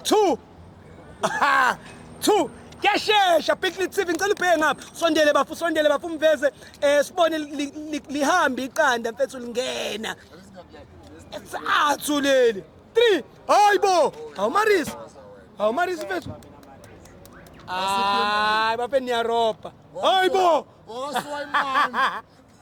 two Aha! two kuyashesha picnic tv ngicela ubheke ngapha sondele bafu sondele bafu mveze um sibone li- li- lihambe iqanda mfethu lingena sathu leli three hayi bo awumarisi awumarisi mfethu hayi bafe niyarobha hayi bo Owasuka imali.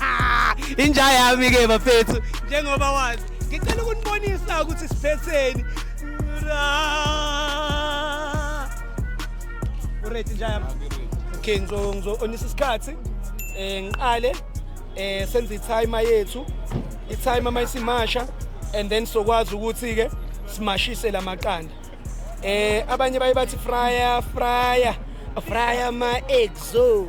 Ah, inja yami ke bafethu njengoba wazi ngicela ukunibonisa ukuthi siphetheni uret inja yami okay ngizoonisa isikhathi um ngiqale um senze ithaima yethu ithaima uma isimasha and then sokwazi ukuthi-ke simashise la maqanda um abanye baye bathi fryer fryer fryer ma-exo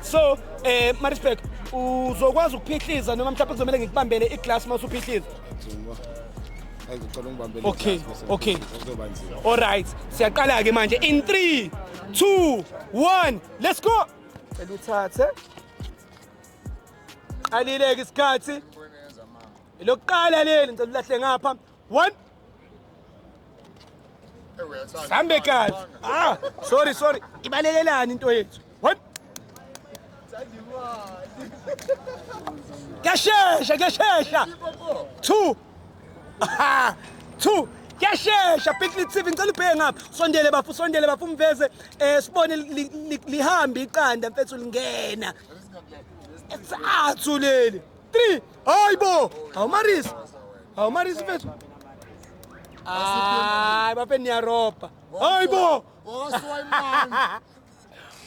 so eh Maritzburg uzokwazi ukuphihliza noma mhlawumbe kuzomele ngikubambele iglass uma usuphihliza okay okay all right siyaqala ke manje in 3 2 1 let's go cela uthathe qalileke isikhathi lokuqala leli ngicela ulahle ngapha 1 sambe kahle ah sorry sorry ibalekelani into yethu kuyashesha kuyashesha two two kuyashesha picnic tv ngicela ubheke ngapha sondele bafo sondele bafo umveze um sibone lihambe iqanda mfethu lingena esathu leli 3 hayi bo awumarisi awumarisi mfethu hayi bafe niyaropa hayi bo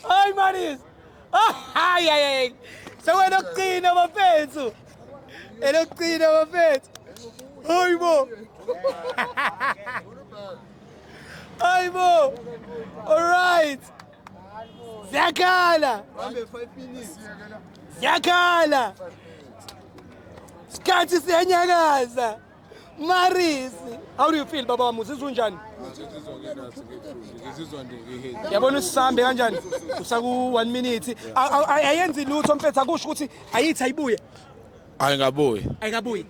hayi marisi hayi hayi sewena okugcina bafethu elokugcina bafethu hayi bo hayi bo all right Ziyakhala. Ziyakhala. Sikhathi siyenyakaza. Marisi. How do you feel baba wami uzizwa unjani? Yabona usisambe kanjani? Usaku 1 minute. Ayenzi lutho mfethu akusho ukuthi ayithi ayibuye. ayingabuyi ayikabuyi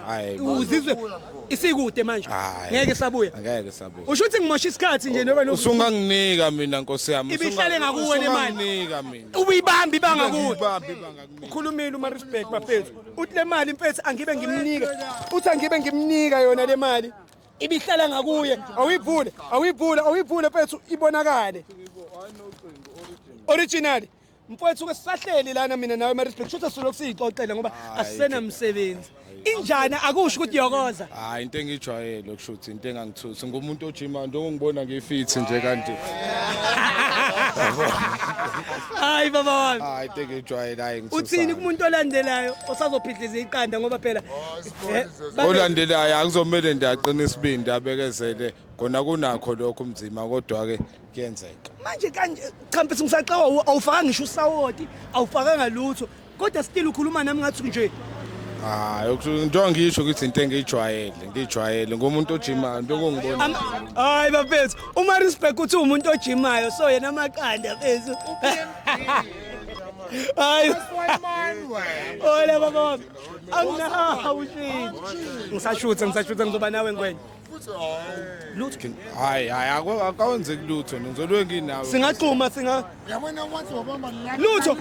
hayi bo. uzizwe isikude manje Hayi. ngeke sabuya ngeke sabuya usho ukuthi ngimosha isikhathi nje noba lokhu usunganginika mina nkosi yami Ibihlale ngakuwe le mali. usunganginika mina ubuyibamba ibanga kuwe Ubambe ibanga kimi. ukhulumile umarisburg bafethu uthi le mali mfethu angibe ngimnika uthi angibe ngimnika yona le mali ibihlala ngakuye awuyivule awuyivule awuyivule mfethu ibonakale original Mfowethu ke sisahleli lana mina nawe Maritzburg shothi sisolokhu siyixoxela ngoba Hayi, asisenamsebenzi. Injani akusho ukuthi yokoza. hayi into engijwayele kushuthi into engangithusi ngumuntu ojima njengongibona ngifithi nje kanti Hayi baba wami. hayi into engijwayele hayi ngithusa Uthini kumuntu olandelayo osazophidliza iqanda ngoba phela eh, babe- olandelayo akuzomele ndaqina isibindi abekezele kona kunakho lokho umzima kodwa ke kuyenzeka manje kanje champisi ngisaxawa awufaka ngisho usawoti awufakanga lutho kodwa still ukhuluma nami ngathi nje hayi into angisho ukuthi into engiyijwayele ngiyijwayele ngomuntu ojimayo into engongibona hayi bafethu uma respect uthi umuntu ojimayo so yena amaqanda bafethu hayi ola baba anginahawu shit ngisashutha ngisashutha ngizoba nawe ngwenya lutho hayi hayi akawenzeki lutho ngizolwe nginawe singaqhuma singa yabona wathi wabamba la lutho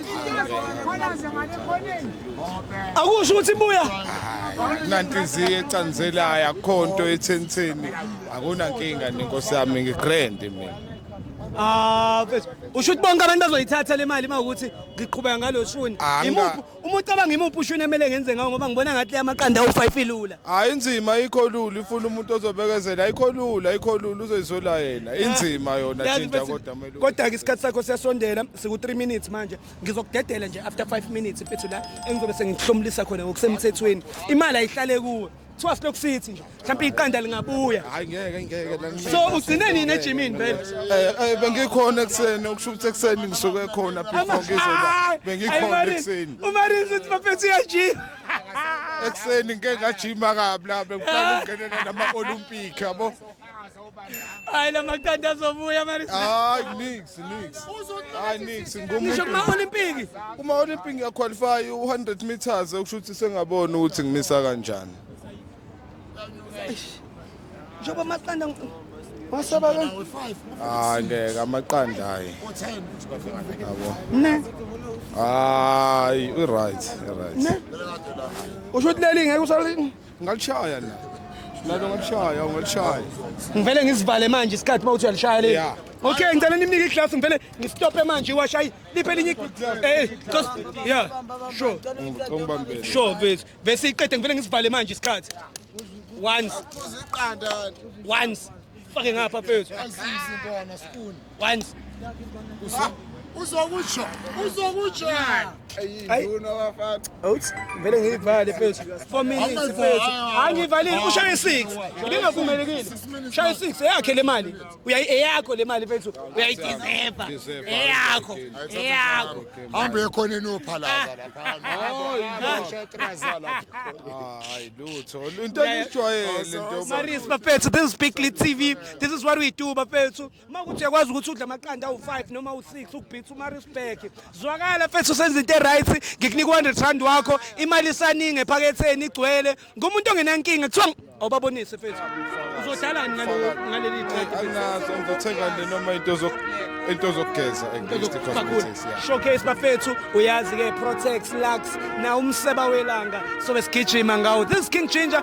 akusho ukuthi buya nantiziye ecanzelayo akhonto ethentheni akuna nkinga nenkosi yami ngigrand mina ah usho ukuthi bonke abantu bazoyithatha le mali uma ukuthi ngiqhubeka ngalo shuni imuphi Uma ucabanga imuphi ushuni emele ngenze ngawo ngoba ngibona ngathi amaqanda awu-5 ilula. Hayi inzima ayikho lula ifuna umuntu ozobekezela ayikho lula ayikho lula uzoyizola yena inzima yona Yazi thinta bese- kodwa melu. Kodwa-ke isikhathi sakho siyasondela siku-3 minutes manje ngizokudedela nje after 5 minutes mfethu la engizobe sengihlomulisa khona ngokusemthethweni imali ayihlale kuwe kuthiwa silokhu sithi nje mhlawumbe iqanda lingabuya hayi ngeke ngeke so ugcine nini ejimini vele eh, eh bengikhona ekseni okusho ukuthi ekseni ngisuke khona before ngizoba bengikhona ekseni umarinzi uthi bafethu uyajima ekseni ngeke ngajima kabi la bengifuna ukungenela nama olympic yabo Hayi lamaqanda azobuya manje. Hayi nix nix. Hayi nix Ngisho kuma ngomuntu. Olympic. Uma Olympic ngiya qualify u100 meters okusho ukuthi sengabona ukuthi ngimisa kanjani. Njengoba amaqanda ngi- Wasaba ke? Hayi ngeke amaqanda hayi. Yabo. ne Hayi i right i right. ne. Usho ukuthi leli ngeke usali Ngalishaya la. Lalo ngalishaya, ngalishaya. Ngivele ngizivale manje isikhathi mawuthi uyalishaya leli. Yeah. Okay, ngicela nimnike iglasi ngivele ngistophe manje iwashayi liphe linye eh just yeah sure ngibambele sure bese bese iqede ngivele ngisivale manje isikhathi once once fake ngapha phezulu asizi bona spoon Once. Ah, uzokutsho uzokutsho ayinduna wafaka awuthi vele ngiyivale mfethu 4 minutes mfethu angivalile ushaye 6 ngingavumelekile ushaye 6 eyakhe le mali eyakho le mali mfethu uyayideserva eyakho eyakho hamba ekhona enopha lapha hayi lutho into engijwayele into Maris bafethu this is Big Lit TV this is what we do bafethu uma ukuthi uyakwazi ukuthi udla amaqanda awu-five noma awu-six ukubhitha umarisburg zwakala mfethu usenza into e-right ngikunika u-hundred rand wakho imali isaningi ephaketheni igcwele ngumuntu ongenankinga kuthiwa awubabonise mfethu uzodlalani ngaleli qedanazo ngizothenga le noma into into zokugeza showcase bafethu uyazi-ke protex lux na umseba welanga sobe sigijima ngawo this king ginger